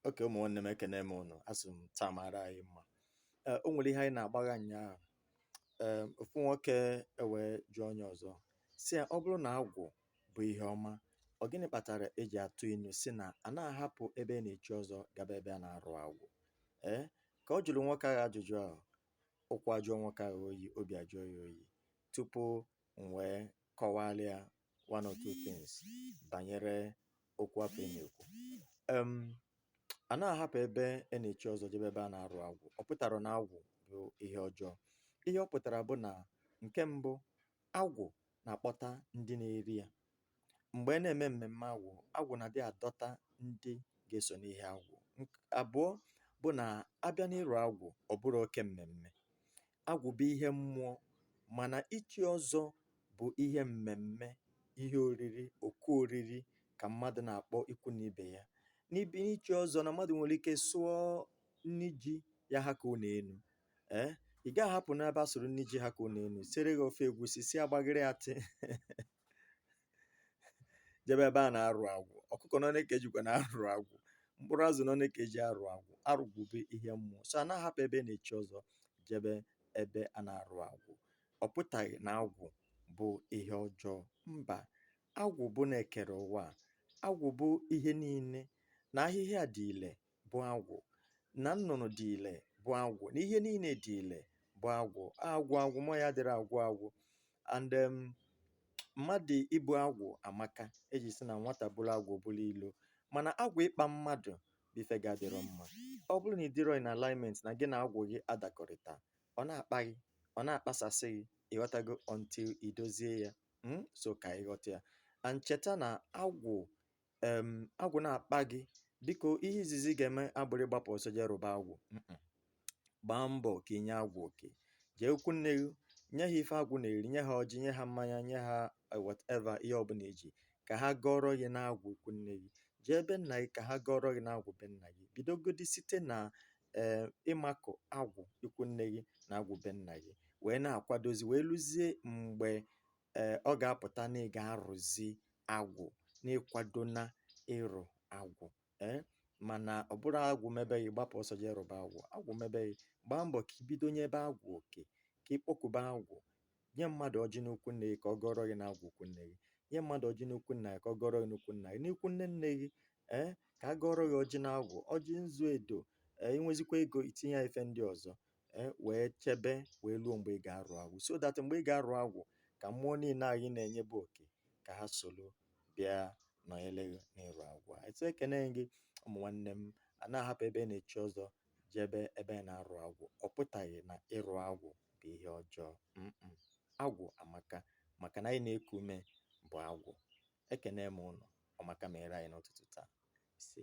Oke ụmụ nwanne m ekene m ụnụ, asị m taa mara anyị mma. Ee, o nwere ihe anyị na-agbagha nnyaa. Ee, ofu nwoke ewee jụọ onye ọzọ sị ya, ọ bụrụ na agwụ bụ ihe ọma, ọ gịnị kpatara e ji atụ ilu sị na a na-ahapụ ebe a na-echi ọzọ gaba ebe a na-arụ agwụ? Ee, ka ọ jụrụ nwoke ahụ ajụjụ ahụ, ụkwụ ajụọ nwoke ahụ oyi, obi ajụọ ya oyi tupu m wee kọwara ya one or two things banyere okwu afụ a na-ekwu um a na-ahapụ ebe a na-echi ọzọ jebe ebe a na-arụ agwụ ọ pụtarọ na agwụ bụ ihe ọjọọ ihe ọ pụtara bụ na nke mbụ agwụ na-akpọta ndị na-eri ya mgbe a na-eme mmemme agwụ agwụ na-adị adọta ndị ga-eso n'ihe agwụ Nk- abụọ bụ na a bịa n'ịrụ agwụ ọ bụrọ oke mmemme agwụ bụ ihe mmụọ mana ichi ọzọ bụ ihe mmemme ihe oriri oku oriri ka mmadụ na-akpọ ikwu na ibe ya n'ibi n'ichi ọzọ na mmadụ nwere ike sụọ nri ji ya ha ka ụnọ enu ee ị gaghị ahapụ n'ebe a sụrụ nri ji ha ka ụnọ enu siere gị ofe egwusi si agbagịrị atị jebe ebe a na-arụ agwụ ọkụkọ ọnụ one ka e jikwanụ arụ agwụ mkpụrụ azụ ọnụ one ka e ji arụ agwụ ịrụ agwụ bụ ihe mmụọ so a na-ahapụ ebe a na-echi ọzọ jebe ebe a na-arụ agwụ ọ pụtaghị na agwụ bụ ihe ọjọọ mba agwụ bụ na e kere ụwa a. agwụ bụ ihe niile na ahịhịa dị ile bụ agwụ na nnụnụ dị ile bụ agwụ na ihe niile dị ile bụ agwụ agwụ agwụ mọ ya dịrị agwụ agwụ and um, mmadụ ibu agwụ amaka e ji sị na nwata buru agwụ buru ilo mana agwụ ịkpa mmadụ bụ ife ga-adịrọ mma ọ bụrụ na ị dịrọ in alignment na gị na agwụ gị adakọrịta ọ na-akpa gị ọ na-akpasasị gị ị ghọtago until i dozie ya mm? so ka ị ghọta ya and cheta na agwụ em agwụ na-akpa gị biko ihe izizi ị ga-eme abụrọ ịgbapụ ọsọ jee rụba agwụ Mm-mm. gbaa mbọ ka i nye agwụ oke jee ikwu nne gị nye ha ife agwụ na-eri nye ha ọjị nye ha mmanya nye ha eh, whatever ihe ọbụla i ji ka ha gọrọ gị n'agwụ ikwu nne gị jee be nna gị ka ha gọrọ gị n'agwụ be nna gị bidogodi site na ee ịmakụ agwụ ikwu nne gị na agwụ be nna gị wee na-akwadozi wee luzie mgbe ee ọ ga-apụta na ị ga-arụzi agwụ na ịkwado na ịrụ agwụ ee eh? mana ọ bụrọ agwụ mebe gị ị gbapụ ọsọ jee rụba agwụ agwụ mebe gị gbaa mbọ ka i bido nyebe agwụ oke ka ị kpọkube agwụ nye mmadụ ọjị n'ikwu nne gị ka ọ gọrọ gị na agwụ ikwu nne gị nye mmadụ ọjị n'ikwu nna gị ka ọ gọrọ gị n'ikwu nna gị n'ikwu nne nne gị ee eh? ka a gọrọ gị ọjị na agwụ ọjị nzu edo ee eh? i nwezikwa ego i tinye ya ife ndị ọzọ e, wee chebe wee luo mgbe ị ga-arụ agwụ so that mgbe ị ga-arụ agwụ ka mmụọ niile anyị na-enyebu oke ka ha soro bịa nọnyere gị n'ịrụ agwụ a etu ekene gị ụmụ nwanne m a na-ahapụ ebe na-echi ọzọ jebe ebe na-arụ agwụ ọ pụtaghị na ịrụ agwụ bụ ihe ọjọọ agwụ amaka maka na anyị na-eku ume bụ agwụ ekene m ụnụ ọma ka mere anyị n'ụtụtụ taa ise